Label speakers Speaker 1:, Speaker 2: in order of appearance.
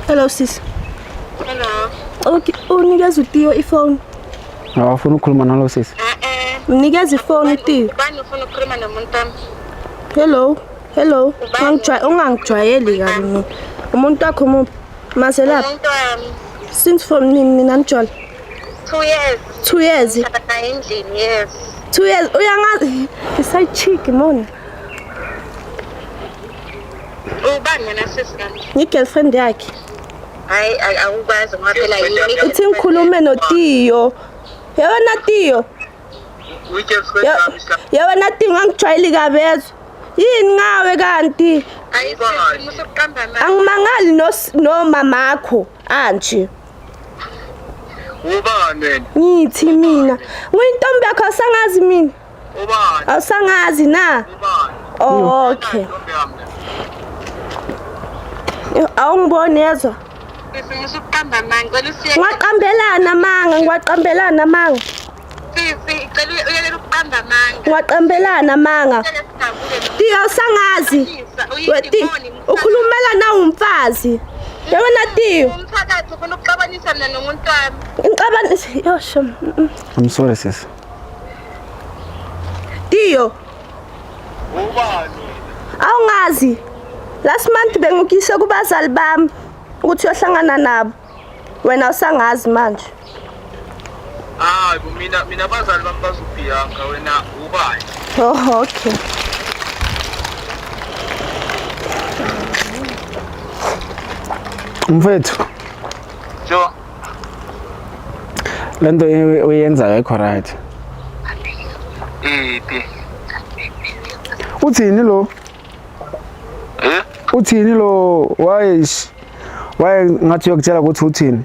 Speaker 1: Hello sis.
Speaker 2: Hello. Okay,
Speaker 1: unikeza uTiyo ifone. Awafuna
Speaker 3: ukukhuluma nalo sisi. Eh eh. Mnikeza
Speaker 1: ifone uTiyo. Bani ufuna ukukhuluma
Speaker 2: nomuntu wami? Hello.
Speaker 1: Hello. Ungangijwayeli, ungangijwayeli kabi mina. Umuntu wakho muphi? Mazelaphi? Umuntu wami.
Speaker 2: Since from
Speaker 1: nini nina nijole? 2
Speaker 2: years. 2 years.
Speaker 1: Endlini
Speaker 2: yes. 2 years.
Speaker 1: Uyangazi. Isayichiki mona.
Speaker 2: ubani wena sisi kanti ngigirlfriend yakhe
Speaker 1: hayi a-
Speaker 2: awukwazi ngoba phela yini uthi ngikhulume
Speaker 1: notiyo yewena tiyo Uyigirlfriend Ye- yami sla. yewena tiyo ngangijwayeli kabezwa yini ngawe kanti hayi Ubani? sisi musa
Speaker 2: ukuqamba amanga angimangali nos-
Speaker 1: nomamakho anje
Speaker 4: Ubani wena? ngithi mina
Speaker 1: nguyintombi yakho asangazi mina Ubani?
Speaker 4: Awusangazi na?
Speaker 1: Ubani? Oh, okay. Awungiboni yezwa? Sisi
Speaker 2: uqamba amanga, ngicela usiye. Ngwaqambelana amanga, ngwaqambelana
Speaker 1: amanga. Sisi,
Speaker 2: ngicela uyekele ukuqamba amanga. Ngwaqambelana
Speaker 1: amanga. Tiyo sangazi. Weti, ukhulumela na umfazi. Yabona Tiyo. Umthakathi ufuna
Speaker 2: ukuxabanisa mina nomuntu wami. Ngixabanisa,
Speaker 1: yosho. I'm sorry
Speaker 3: sisi.
Speaker 1: Tiyo.
Speaker 4: Ubani?
Speaker 1: Awungazi. Last month bengikise kubazali bami ukuthi uyohlangana nabo. Wena usangazi manje.
Speaker 4: Ah, mina mina bazali bami bazobhiyanka wena ubani? Oh, okay.
Speaker 3: Mfethu. Jo. lento uyenzayo ayikho right iphi
Speaker 4: uthini
Speaker 3: lo eh uthini lo wayesh waye ngathi uyokutshela ukuthi uthini